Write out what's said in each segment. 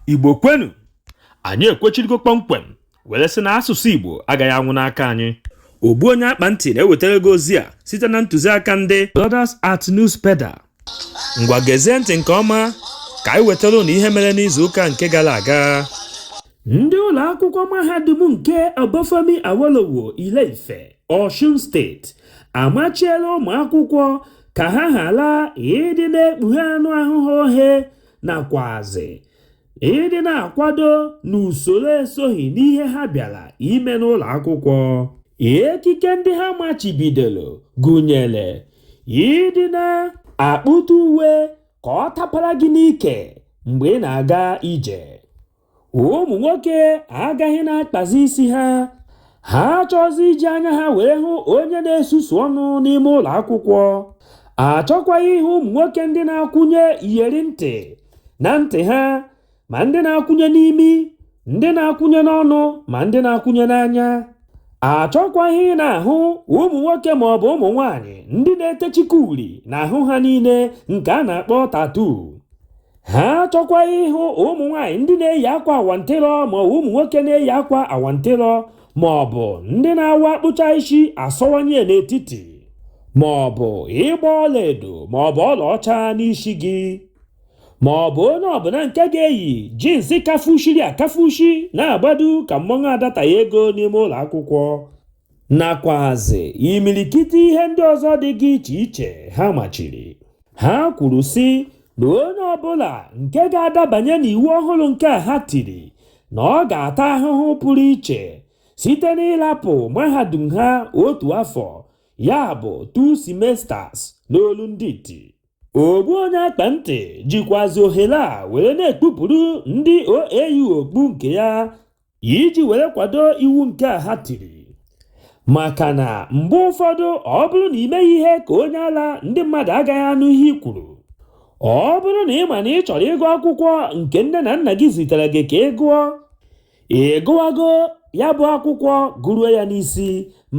igbo kwenu anyị ekwechirigo kpọmkwem were sị na asụsụ igbo agaghị anwụ n'aka anyị ogbu onye akpa ntị na-ewetara gị ozi a site na ntụziaka ndị Brothers at Newspeda ngwa gezie ntị nke ọma ka anyị wetara ụnụ ihe mere n'izu ụka nke gara aga ndị ụlọ akwụkwọ mahadum nke Obafemi Awolowo Ile-Ife Osun State amachiela ụmụ akwụkwọ ka ha ghara ịdị na-ekpughe anụ ahụ ha ohe nakwazi ịdị na-akwado n'usoro esoghị n'ihe ha bịara ime n'ụlọ akwụkwọ. Ekike ndị ha machibidoro gụnyere ịdị na-akpụta uwe ka ọ tapara gị n'ike mgbe ị na-aga ije. ụmụ nwoke agaghị na-akpazi isi ha ha achọzi iji anya ha were hụ onye na-esusu ọnụ n'ime ụlọ akwụkwọ achọkwaghị ịhụ ụmụ nwoke ndị na-akwụnye iyeri ntị na ntị ha ma ndị na-akwụnye n'imi ndị na-akwụnye n'ọnụ ma ndị na-akwụnye n'anya achọkwaghị ị na-ahụ ụmụ nwoke ma ọ bụ ụmụ nwaanyị ndị na-etechika uri n'ahụ ha niile nke a na-akpọ tattoo ha achọkwaghị ịhụ ụmụ nwaanyị ndị na-eyi akwa awantịrọ ma ụmụ nwoke na-eyi akwa awantịrọ ma ọ bụ ndị na-abụ akpụcha isi asọwanye n'etiti ma ọ bụ ịgba ọlaedo ma ọ bụ ọlaọcha n'isi gị ma ọ bụ onye ọbụla nke ga-eyi jeans kafushiri akafushi na-agbado ka mmọnwụ adataghị ego n'ime ụlọ akwụkwọ nakwazi imirikiti ihe ndị ọzọ dịga iche iche ha machiri. Ha kwuru sị na onye ọbụla nke ga-adabanye n'iwu ọhụrụ nke a ha tiri na ọ ga-ata ahụhụ pụrụ iche site n'ịlapụ mahadum ha otu afọ ya bụ two semesters n'olu ndị iti. Ogbu onye akpa ntị jikwazi ohere a were na-ekpupụrụ ndị OAU okpu nke ya iji were kwado iwu nke a ha tiri maka na mgbe ụfọdụ ọ bụrụ na i meghị ihe ka onye ala ndị mmadụ agaghị anụ ihe i kwuru ọ bụrụ na ị ma na ị chọrọ ịgụ akwụkwọ nke nne na nna gị zitere gị ka ị gụọ ị gụwago ya bụ akwụkwọ gụruo ya n'isi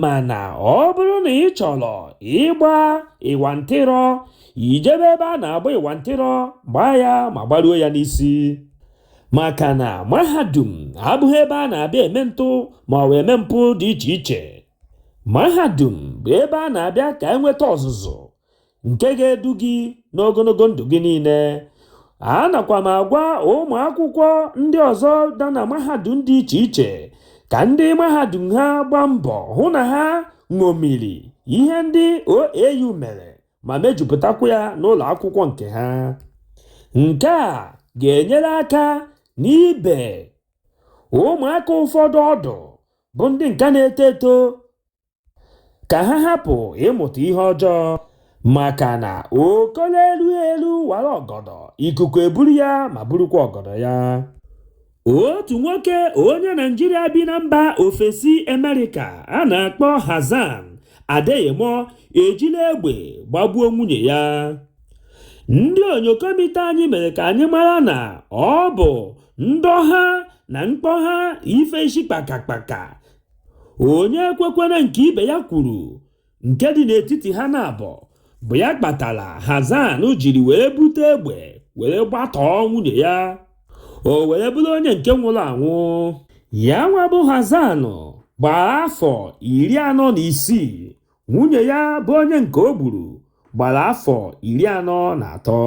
mana ọ bụrụ na ị chọrọ ịgba ịwa ntịrọ i jebe ebe a na-agba ịwa ntịrọ gbaa ya ma gbaruo ya n'isi maka na mahadum abụghị ebe a na-abịa eme ntụ ma ọ bụ eme mpụ dị iche iche mahadum bụ ebe a na-abịa ka e nweta ọzụzụ nke ga-edu gị n'ogologo ndụ gị niile anakwa m agwa ụmụ akwụkwọ ndị ọzọ dị na mahadum dị iche iche ka ndị mahadum ha gbaa mbọ hụ na ha ṅomiri ihe ndị OAU mere ma mejupụtakwa ya n'ụlọ akwụkwọ nke ha nke a ga-enyere aka n'ibe ụmụaka ụfọdụ ọdụ bụ ndị nke na-eto eto ka ha hapụ ịmụta ihe ọjọọ maka na okolo elu elu wara ọgọdọ ikuku eburu ya ma burukwa ọgọdọ ya otu nwoke onye naijiria bi na mba ofesi amerịka a na-akpọ hassan adeyemo ejila egbe gbagbuo nwunye ya ndị onyokomite anyị mere ka anyị mara na ọ bụ ndọha na mkpọha ife isi kpakakpaka onye kwekwere nke ibe ya kwuru nke dị n'etiti ha naabọ bụ ya kpatara Hassan jiri were bute egbe were gbatọọ nwunye ya o were bụrụ onye nke nwụrụ anwụ ya nwa bụ Hassan gbara afọ iri anọ na isii nwunye ya bụ onye nke o gburu gbara afọ iri anọ na atọ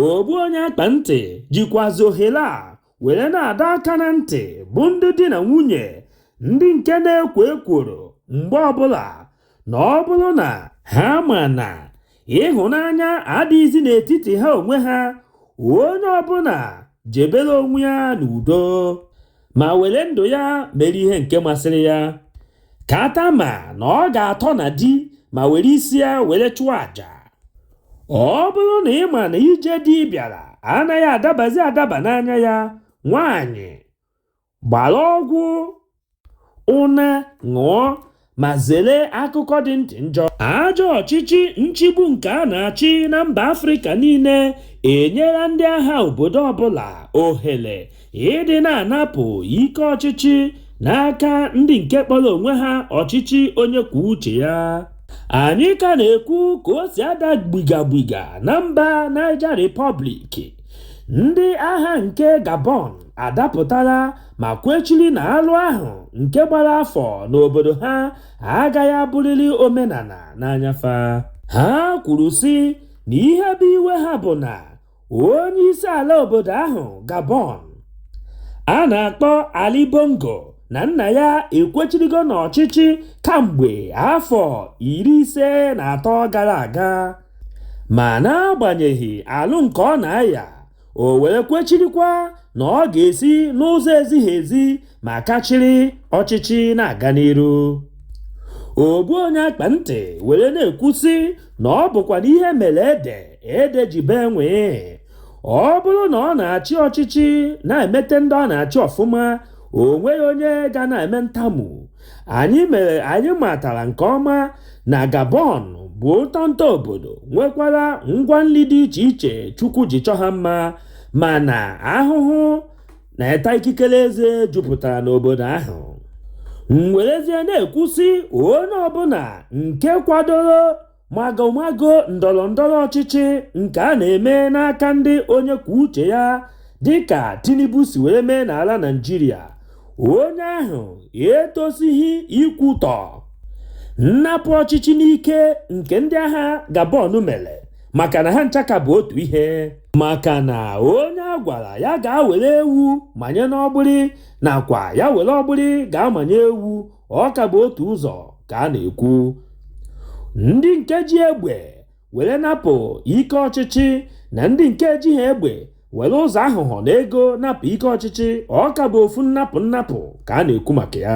ogbu onye akpa ntị jikwazi ohere a were na-adọ aka na ntị bụ ndị di na nwunye ndị nke na-ekwo ekworo mgbe ọbụla na ọ bụrụ na ha ma na ịhụnanya adịghịzi n'etiti ha onwe ha onye ọbụla jebere onwe ya n'udo ma were ndụ ya mere ihe nke masịrị ya kata ma na ọ ga-atọ na di ma were isi ya were chụọ aja ọ bụrụ na ị ma na ije di bịara anaghị adabazi adaba n'anya ya nwaanyị gbara ọgwụ ụna ṅụọ ma zere akụkọ dị ntị njọ ajọ ọchịchị nchigbu nke a na-achị na mba afrịka niile enyela ndị agha obodo ọbụla ohere ịdị na-anapụ ike ọchịchị n'aka ndị nke kpọrọ onwe ha ọchịchị onye kwuo uche ya anyị ka na-ekwu ka o si ada gbigagbiga na mba Niger Republic ndị agha nke Gabon adapụtala ma kwechiri na alụ ahụ nke gbara afọ n'obodo ha agaghị abụrịrị omenala n'anya fa ha kwuru sị na ihe bụ iwe ha bụ na onye isi ala obodo ahụ gabon a na-akpọ ali bongo na nna ya ekwechirigo n'ọchịchị kamgbe afọ iri ise na atọ gara aga ma n'agbanyeghị alụ nke ọ na-aya o were kwechirikwa na ọ ga-esi n'ụzọ ezighi ezi ma kachiri ọchịchị na-aga n'iru ogbu onye akpa ntị were na-ekwu sị na ọ bụkwanụ ihe mere ede ede ji bee nwee ọ bụrụ na ọ na-achị ọchịchị na-emete ndị ọ na-achị ọfụma o nweghị onye ga na-eme ntamu anyị matara nke ọma na Gabon bụ ụtọ nta obodo nwekwara ngwa nri dị iche iche Chukwu ji chọọ ha mma mana ahụhụ na ịta ikikere eze jupụtara n'obodo ahụ m werezie na-ekwu sị onye ọbụla nke kwadoro magomago ndọrọ ndọrọ ọchịchị nke a na-eme n'aka ndị onye kwuo uche ya dịka Tinubu si were mee n'ala Naịjirịa onye ahụ etosighị ikwutọ nnapụ ọchịchị n'ike nke ndị agha Gabon mere maka na ha ncha ka bụ otu ihe maka na onye a gwara ya gaa were ewu manye n'ọgbụrị nakwa ya were ọgbụrị gaa manye ewu ọ ka bụ otu ụzọ ka a na-ekwu ndị nke ji egbe were napụ ike ọchịchị na ndị nke ejiha egbe were ụzọ aghụghọ na ego napụ ike ọchịchị ọ ka bụ ofu nnapụ nnapụ ka a na-ekwu maka ya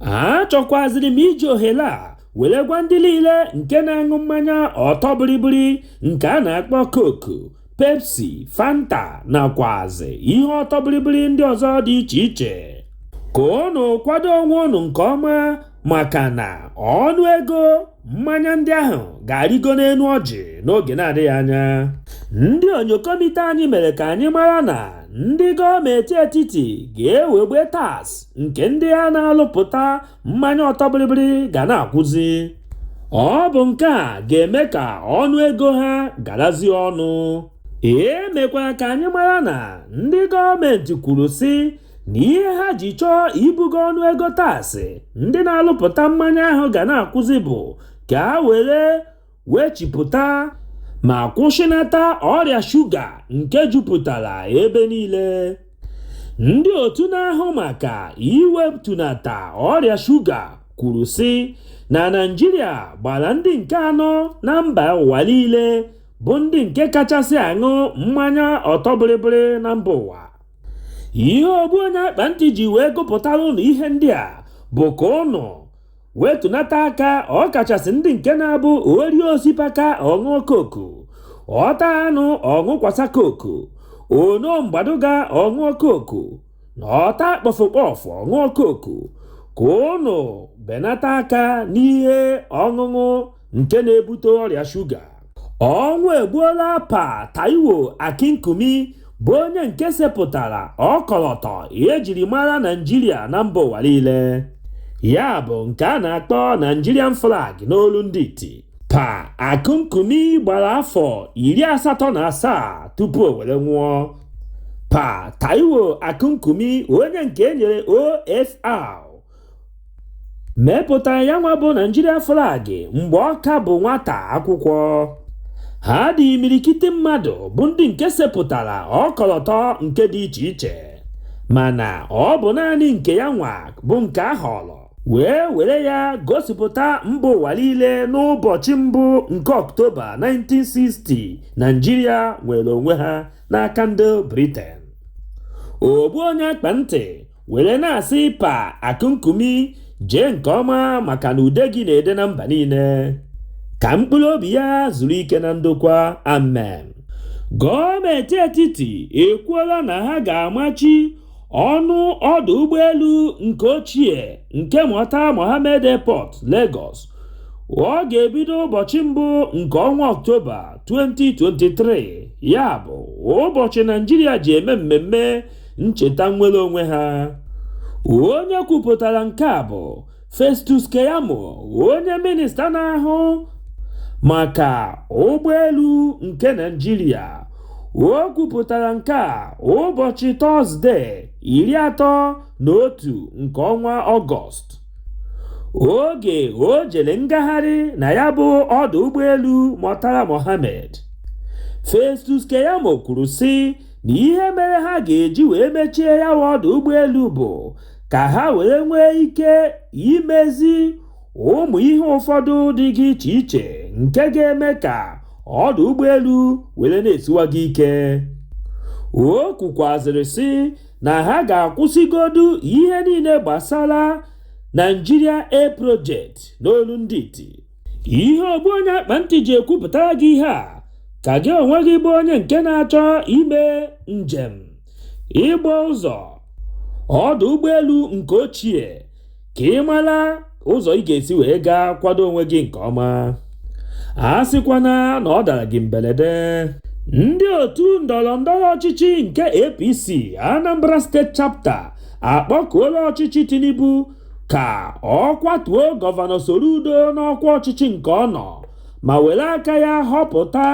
achọkwaziri m iji ohere a were gwa ndị niile nke na-aṅụ mmanya ọtọ bịrịbịrị nke a na-akpọ Coke Pepsi Fanta nakwazi ihe ọtọ bịrịbịrị ndị ọzọ dị iche iche ka unu kwado onwe unu nke ọma maka na ọnụ ego mmanya ndị ahụ ga-arịgo n'elu ọjị n'oge na-adịghị anya ndị onyokomite anyị mere ka anyị mara na ndị gọọmenti etiti ga-ewegbe tax nke ndị a na-alụpụta mmanya ọtọ bịrịbịrị ga na-akwụzi ọ bụ nke a ga-eme ka ọnụ ego ha garazie ọnụ e mekwara ka anyị mara na ndị gọọmenti kwuru sị na ihe ha ji chọọ ibugo ọnụ ego taasị ndị na-alụpụta mmanya ahụ ga na-akwụzi bụ ka a were wee chịpụta ma kwụsịnata ọrịa shuga nke jupụtara ebe niile ndị otu na-ahụ maka iwetunata ọrịa shuga kwuru sị na Naịjirịa gbara ndị nke anọ na mba ụwa niile bụ ndị nke kachasị aṅụ mmanya ọtọ bịrịbịrị na mba ụwa ihe ogbu onye akpa ntị ji wee gụpụtara ụnụ ihe ndị a bụ ka ụnụ wetunata aka ọkachasị ndị nke na-abụ o rie osipaka ọ ṅụọ koku ọ taa anụ ọ ṅụkwasa koku o noo mgbaduga ọ ṅụọ koku na ọ taa kpọfụkpọfụ ọ ṅụọ koku ka ụnụ benata aka n'ihe ọṅụṅụ nke na-ebute ọrịa shuga ọnwụ egbuola pa taiwo akinkumi bụ onye nke sepụtara ọkọlọtọ ihe e jiri mara naijiria na mba ụwa niile ya bụ nke a na-akpọ nigerian flag n'olu ndị iti pa akinkumi gbara afọ iri asatọ na asaa tupu o were nwụọ pa taiwo akinkumi onye nke e nyere ofr mepụtara ya nwa bụ Naịjirịa flag mgbe ọ ka bụ nwata akwụkwọ ha dị imirikiti mmadụ bụ ndị nke sepụtara ọkọlọtọ nke dị iche iche mana ọ bụ naanị nke ya nwa bụ nke a họrọ wee were ya gosipụta mba ụwa niile n'ụbọchị mbụ nke ọktoba 1960 naijiria nwere onwe ha n'aka ndị briten ogbu onye akpa ntị were na-asị pa akinkumi jee nke ọma maka na ude gị na-ede na mba niile ka mkpụrụ obi ya zuru ike na ndokwa amen gọọmenti etiti ekwuola na ha ga-amachi ọnụ ọdụ ụgbọelu nke ochie nke Murtala Mohammed Airport Lagos ọ ga-ebido ụbọchị mbụ nke ọnwa ọktoba 2023 ya bụ ụbọchị naijiria ji eme mmemme ncheta nnwere onwe ha onye kwupụtara nke a bụ Festus Keyamo onye minista na-ahụ maka ụgbọelu nke Naịjirịa o kwupụtara nke a ụbọchị tọzde iri atọ na otu nke ọnwa ọgọst oge o jere ngagharị na ya bụ ọdụ ụgbọelu Murtala Mohammed Festus Keyamo kwuru sị na ihe mere ha ga-eji wee mechie ya bụ ọdụ ụgbọelu bụ ka ha wee nwee ike imezi ụmụ ihe ụfọdụ dịga iche iche nke ga-eme ka ọdụ ụgbọelu were na-esiwaga ike o kwukwazịrị sị na ha ga-akwụsịgodu ihe niile gbasara Nigeria Air Project n'olu ndị iti ihe ogbu onye akpa ntị ji ekwupụtara gị ihe a ka gị onwe gị bụ onye nke na-achọ ime njem ịgba ụzọ ọdụ ụgbọelu nke ochie ka ị mara ụzọ ị ga-esi wee gaa kwado onwe gị nke ọma a sịkwana na ọ dara gị mberede ndị otu ndọrọ ndọrọ ọchịchị nke APC Anambra State Chapter akpọkuola ọchịchị Tinubu ka ọ kwatuo gọvanọ Soludo n'ọkwa ọchịchị nke ọ nọ ma were aka ya họpụta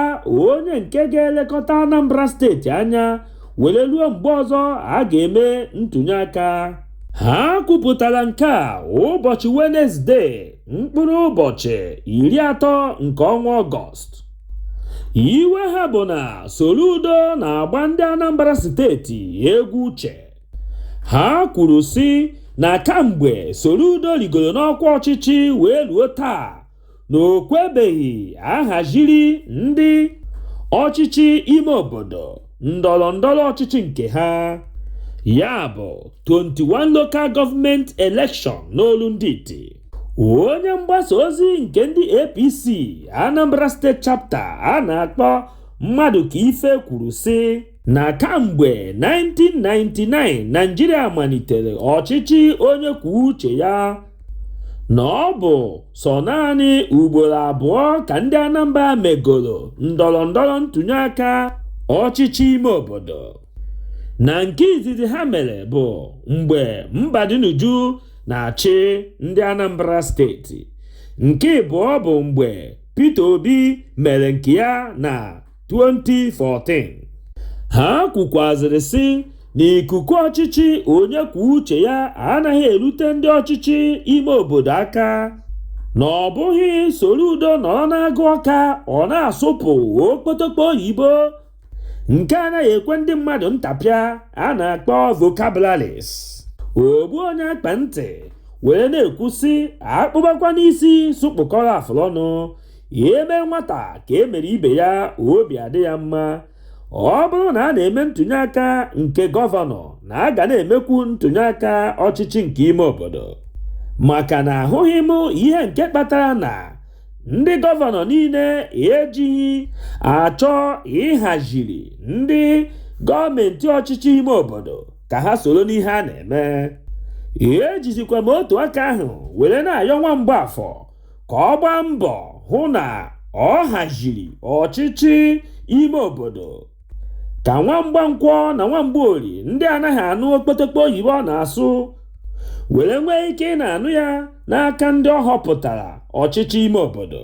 onye nke ga-elekọta Anambra steeti anya were ruo mgbe ọzọ a ga-eme ntụnyeaka ha kwupụtara nke a ụbọchị Wenezdee mkpụrụ ụbọchị iri atọ nke ọnwa Ọgọst iwe ha bụ na Soludo na-agba ndị Anambra steeti egwu uche ha kwuru sị na kamgbe Soludo rigoro n'ọkwa ọchịchị wee ruo taa na o kwebeghị a haziri ndị ọchịchị ime obodo ndọrọ ndọrọ ọchịchị nke ha ya bụ 21 local government election n'olu ndị iti onye mgbasa ozi nke ndị APC Anambra State chapter a na-akpọ Madukaife kwuru sị na kamgbe 1999 naijiria malitere ọchịchị onye kwuo uche ya na ọ bụ sọ naanị ugboro abụọ ka ndị anambra megoro ndọrọ ndọrọ ntụnye aka ọchịchị ime obodo na nke izizi ha mere bụ mgbe mbadinuju na-achị ndị anambra steeti nke ịbụọ bụ mgbe peter obi mere nke ya na 2014 ha kwukwazịrị sị na ikuku ọchịchị onye kwuo uche ya anaghị erute ndị ọchịchị ime obodo aka na ọ bụghị Soludo nọrọ n'Agụ Ọka ọ na-asụpụ okpotokpo oyibo nke anaghị ekwe ndị mmadụ ntapịa a na-akpọ vocabularies ogbu onye akpa ntị wee na-ekwu sị a kpụbakwa n'isi sị kpụkọrọ afụlọnụ e mee nwata ka e mere ibe ya obi adị ya mma ọ bụrụ na a na-eme ntụnye aka nke gọvanọ na a ga na-emekwu ntụnye aka ọchịchị nke ime obodo maka na ahụghị m ihe nke kpatara na ndị gọvanọ niile ejighị achọ ịhaziri ndị gọọmenti ọchịchị ime obodo ka ha soro n'ihe a na-eme ejizikwa m otu aka ahụ were na-ayọ nwa Mgbafọ ka ọ gbaa mbọ hụ na ọ haziri ọchịchị ime obodo ka nwa Mgbankwọ na nwa Mgbaori ndị anaghị anụ okpotokpo oyibo ọ na-asụ were nwee ike ị na-anụ ya n'aka ndị ọ họpụtara ọchịchị ime obodo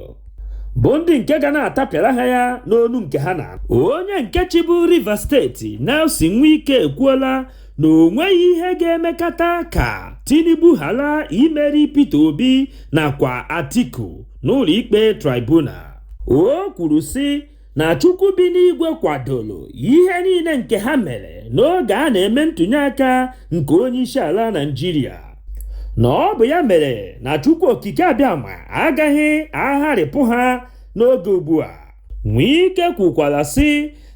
bụ ndị nke ga na-atapịara ha ya n'onu nke ha na-anụ onye nke chịbu Rivers steeti Nyesom Wike ekwuola na o nweghị ihe ga-emekata ka Tinubu ghara imeri Peter Obi nakwa Atiku n'ụlọikpe tribunal o kwuru sị na Chukwu bi n'igwe kwadoro ihe niile nke ha mere n'oge a na-eme ntụnyeaka nke onyeisiala Naịjirịa na ọ bụ ya mere na Chukwu Okike Abịama agaghị agharịpụ ha n'oge ugbu a Nwike kwukwara sị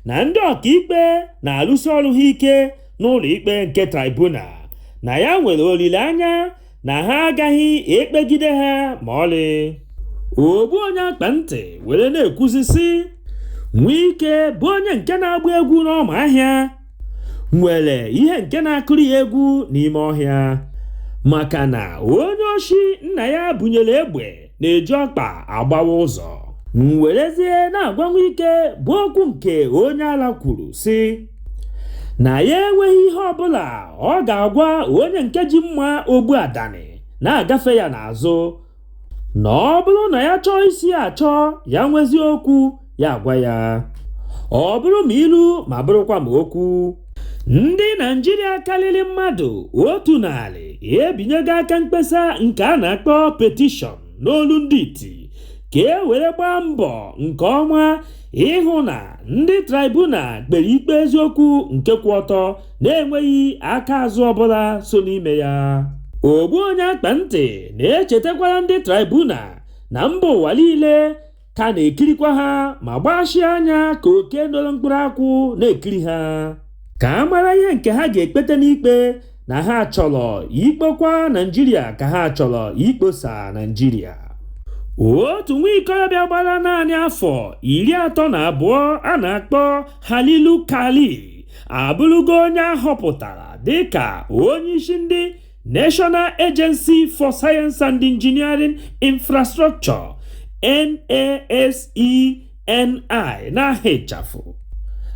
na ndị ọkaikpe na-alụsi ọrụ ha ike n'ụlọ ikpe nke tribunal na ya nwere olileanya na ha agaghị ekpegide ha ma ọlị ogbu onye akpa ntị were na-ekwuzi sị Nwike bụ onye nke na-agba egwu n'ọma ahịa nwere ihe nke na-akụrụ ya egwu n'ime ọhịa maka na onye oshi nna ya bunyere egbe na-eji ọkpa agbawa ụzọ m werezie na-agwa Nwike bụ okwu nke onye ala kwuru sị na ya enweghị ihe ọbụla ọ ga-agwa onye nke ji mma ogbu adani na-agafe ya n'azụ na ọ bụrụ na ya chọọ isi achọ ya nwezi okwu ya agwa ya ọ bụrụ ma ilu ma bụrụkwa ma okwu ndị Naịjirịa karịrị mmadụ otu narị ebinyego aka mkpesa nke a na-akpọ petition n'olu ndị iti ka e were gbaa mbọ nke ọma ịhụ na ndị tribunal kpere ikpe eziokwu nke kwụ ọtọ na-enweghị aka azụ ọbụla so n'ime ya ogbu onye akpa ntị na-echetakwara ndị tribunal na mba ụwa niile ka na-ekirikwa ha ma gbachie anya ka oke noro mkpụrụ akwụ na-ekiri ha ka a mara ihe nke ha ga-ekpete n'ikpe na ha chọrọ ikpokwa Naịjirịa ka ha chọrọ ikposa Naịjirịa otu nwa ikorobịa gbara naanị afọ iri atọ na abụọ a na-akpọ Halilu Khalil abụrụgo onye a họpụtara dịka onye isi ndị National Agency for Science and Engineering Infrastructure NASENI n'aha ịchafụ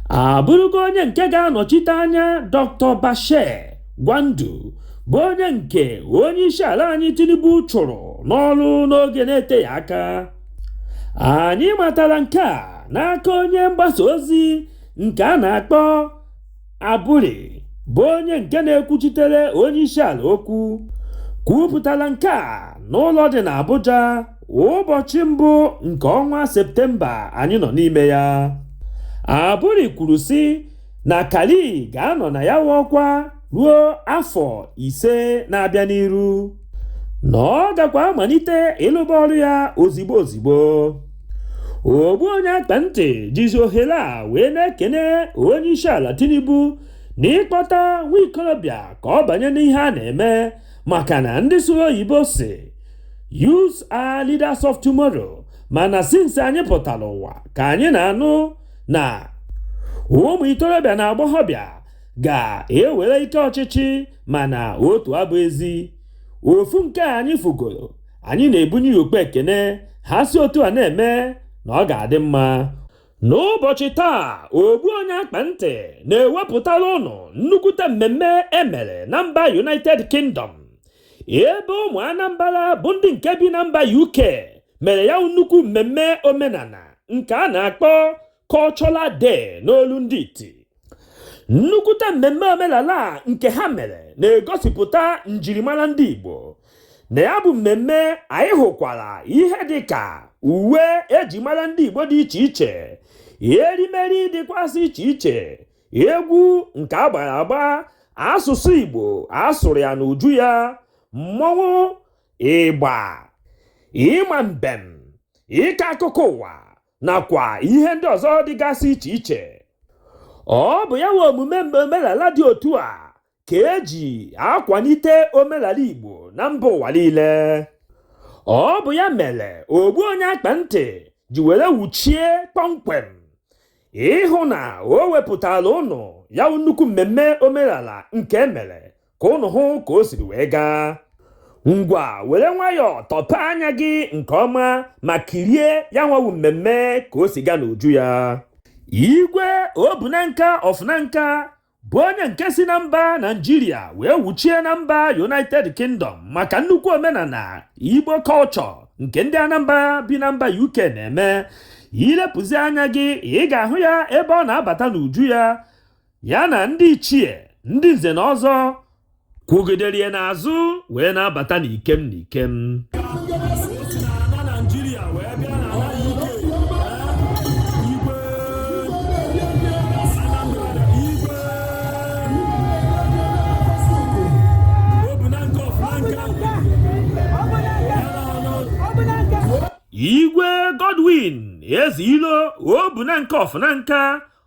abụrụgo onye nke ga-anọchite anya Dr. Bashir Gwandu bụ onye nke onye isi ala anyị Tinubu chụrụ n'ọrụ n'oge na-eteghị aka anyị matara nke a n'aka onye mgbasa ozi nke a na-akpọ Aburi bụ onye nke na-ekwuchitere onye isi ala okwu kwupụtara nke a n'ụlọ dị n'Abuja ụbọchị mbụ nke ọnwa Septemba anyị nọ n'ime ya. Aburi kwuru sị na Khalil ga-anọ na ya bụ ọkwa ruo afọ ise na-abịa n'iru na ọ gakwa amalite ịlụba ọrụ ya ozigbo ozigbo. ogbu onye akpa ntị jizi ohere a wee na-ekene onye isi ala tinubu na ịkpọta nwa ikorobịa ka ọ banye n'ihe a na-eme maka na ndị sụrụ oyibo si youths are leaders of tomorrow mana since anyị pụtara ụwa ka anyị na-anụ na ụmụ ikorobịa na agbọghọbịa ga-ewere ike ọchịchị mana otu abụ ezi ofu nke anyị fụgoro anyị na-ebunye ya okpu ekene ha si otu a na-eme na ọ ga-adị mma n'ụbọchị taa ogbu onye akpa ntị na-ewepụtara ụnụ nnukwute mmemme emere na mba United Kingdom ebe ụmụ Anambra bụ ndị nke bi na mba UK mere ya nnukwu mmemme omenala nke a na-akpọ Cultural Day n'olu ndị iti nnukwute mmemme omenala nke ha mere na-egosipụta njirimara ndị Igbo na ya bụ mmemme anyị hụkwara ihe dị ka uwe eji mara ndị Igbo dị iche iche erimeri dịkwasị iche iche egwu nke agbara agba asụsụ Igbo asụrụ ya n'uju ya mmọnwụ ịgba ịma mbem ịkọ akụkọ ụwa nakwa ihe ndị ọzọ dịgasị iche iche ọ bụ ya nwa omume omenala dị otu a ka eji akwalite omenala Igbo na mba ụwa niile ọ bụ ya mere ogbu onye akpa ntị ji were wuchie kpọmkwem ịhụ na o wepụtara ụnụ ya nnukwu mmemme omenala nke emere ka ụnụ hụ ka o siri wee gaa ngwa were nwayọọ tọpe anya gị nke ọma ma kirie ya nwa wụ mmemme ka o si gaa n'uju ya igwe Obu Nanka of Nanka bụ onye nke si na mba Naịjirịa wee wuchie na mba united kingdom maka nnukwu omenala igbo culture nke ndị Anambra bi na mba uk na-eme ilepụzi anya gị ị ga-ahụ ya ebe ọ na-abata n'uju ya ya na ndị ichie ndị nze na ọzọ kwugidere ya n'azụ wee na-abata n'ikem n'ikem igwe godwin Ezeilo Obu Nanka of Nanka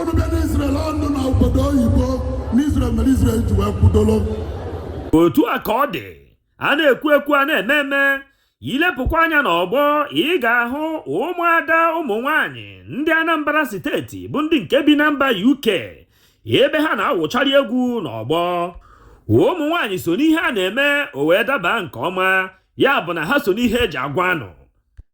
unu bịa n'Israel ọnụ na obodo oyibo n'Israel mere Israel ji wee kwudoro otu a ka ọ dị a na-ekwu ekwu a na-eme eme ilepụkwa anya n'ọgbọ ị ga-ahụ ụmụada ụmụ nwanyị ndị Anambra steeti bụ ndị nke bi na mba UK ebe ha na-awụchari egwu n'ọgbọ ụmụ nwanyị so n'ihe a na-eme o wee daba nke ọma ya bụ na ha so n'ihe eji agwa ụnụ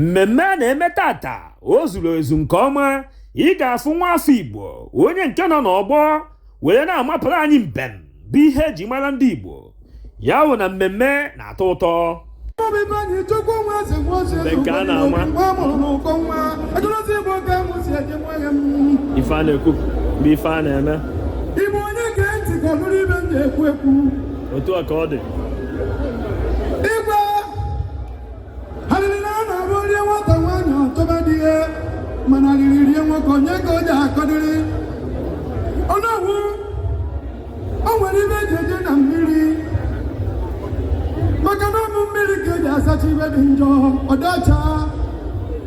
mmemme a na-eme taata o zuru ezu nke ọma ị ga-afụ nwa afọ Igbo onye nke nọ n'ọgbọ were na-amapụrụ anyị mbem bụ ihe eji mara ndị Igbo ya wụ na mmemme na-atọ ụtọ nke a na-ama ife a na-ekwu bụ ife a na-eme otu a ka ọ dị arịrị na-abụ o rie nwata nwaanyị ọ tọba di ihe mana arịrị rie nwoke onye ka ọ ja-akọdịrị ọnụọgwụ o nwere ibe eji eje na mmiri maka na ọ bụ mmiri ka eji asacha ibe dị njọ ọ dị ọcha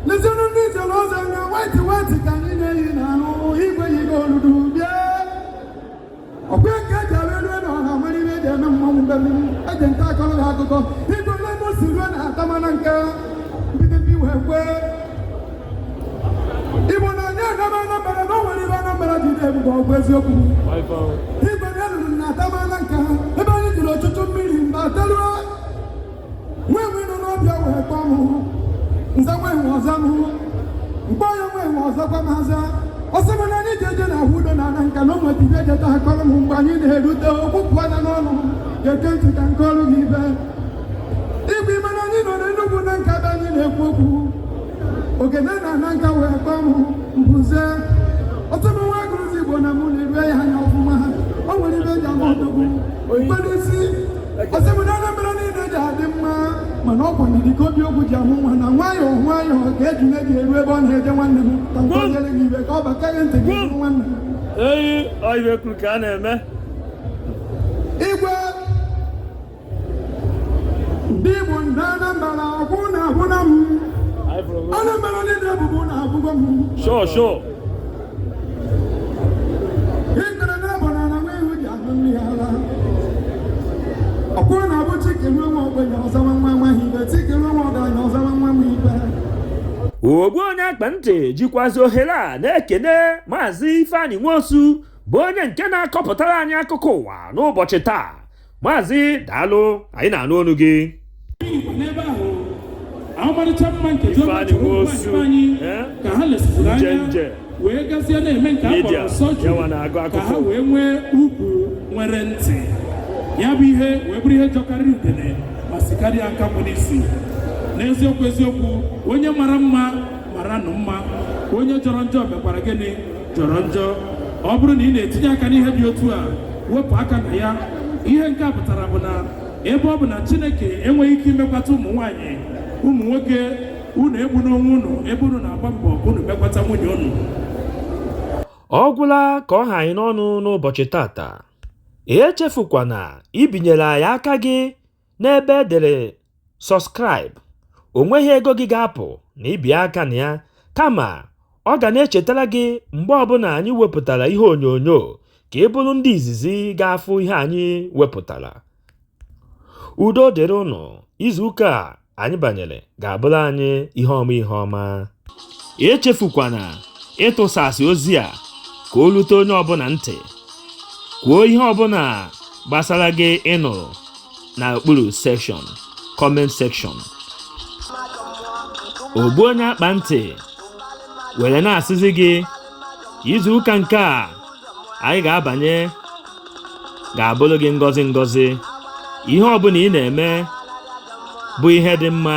lezienụ ndị zere ọzọ na waiti waiti ka anyị na-eyi n'ahụ igwe yigo oludu ọkwa nke eji alụ elu na ọha nwere ihe eji eme mmanwụ mgbe eji nta akọrọ ha akụkọ igwe ole ebe o si ruo na atamana nke mbido mbi wee kwee igbo na onye agaba anambara na o nwere ibe anambara ji dị ebube ọgwụ eziokwu igwe na eluru na atamana nke ha ebe anyị jiri ọtụtụ mmiri mgbe ataruo nwe nwe nọ n'ọbịa wee kpọ m nza nwe nwe ọza m mkpọ ya nwe nwe ọza gwa m aza ọsọ m na anyị ji eje na ahụ udo na ana nka na ụmụ dibịa jeta ha kọrọ m mgbe anyị na-erute okwu pụọ na n'ọnụ ga-ege ntị ka m kọọrụ gị ibe igwe ime na anyị nọ n'enugwu na nka be anyị na-ekwu okwu ogene na ana nka wee kpọ m mbuze ọtụ m nwa agụluzigbo na mụ na-erue ya anya ọfụma o nwere ibe eji ama odogwu mkpere isi ọsị bụ na Anambra niile ji adị mma mana ọ kwanye dịka obi okwu ji amụ nwa na nwayọọ nwayọọ ka ejule ji eru ebe ọ na-eje nwanne m ka m kọnyere gị ibe ka ọ bata gị ntị gị hụ nwanne m eyi ọibe kwuru ka a na-eme igwe ndị Igbo ndị Anambra akwụ na ahụ na m Anambra niile bụbu na abụgo m Sure, sure. ogbu onye akpa ntị jikwazi ohere a na-ekene maazị ifeanyi nwosu bụ onye nke na-akọpụtara anyị akụkọ ụwa n'ụbọchị taa maazị daalụ anyị na-anụ onu gị ọmarịcha mma nke Jehova chọrọ ụmụ nwaanyị eh? ka ha lesịpụrụ anya wee gazie na-eme nke a kpọrọ surgery ka ha wee nwee ukwu nwere ntị ya bụ ihe wee bụrụ ihe jọkarịrị udene ma sikarịa nkakwụ n'isi n'eziokwu eziokwu onye mara mma maranụ mma onye jọrọ njọ mekwara gịnị jọrọ njọ ọ bụrụ na ị na-etinye aka n'ihe dị otu a wepụ aka na ya ihe nke a pụtara bụ na ebe ọ bụ na chineke enweghị ike imekwata ụmụ nwaanyị ụmụ nwoke unu egbuna onwe unu ebe unu na-agba mbọ unu mekwata nwunye unu ọ gwụla ka ọ ha anyị n'ọnụ n'ụbọchị tata echefukwana ibinyere anyị aka gị N'ebe e dere Subscribe, o nweghị ego gị ga-apụ na ibi aka na ya, kama ọ ga na-echetara gị mgbe ọbụla anyị wepụtara ihe onyonyo ka ị bụrụ ndị izizi ga-afụ ihe anyị wepụtara. Udo dịrị unu, izuụka a anyị banyere ga-abụrụ anyị ihe ọma ihe ọma. echefukwana ịtụsasị ozi a ka o lute onye ọbụla ntị kwuo ihe ọbụla gbasara gị ị nụrụ na okpuru section comment section ogbu onye akpa ntị were na-asịzi gị izu ụka nke a anyị ga-abanye ga-abụrụ gị ngọzi ngọzi ihe ọbụla ị na-eme bụ ihe dị mma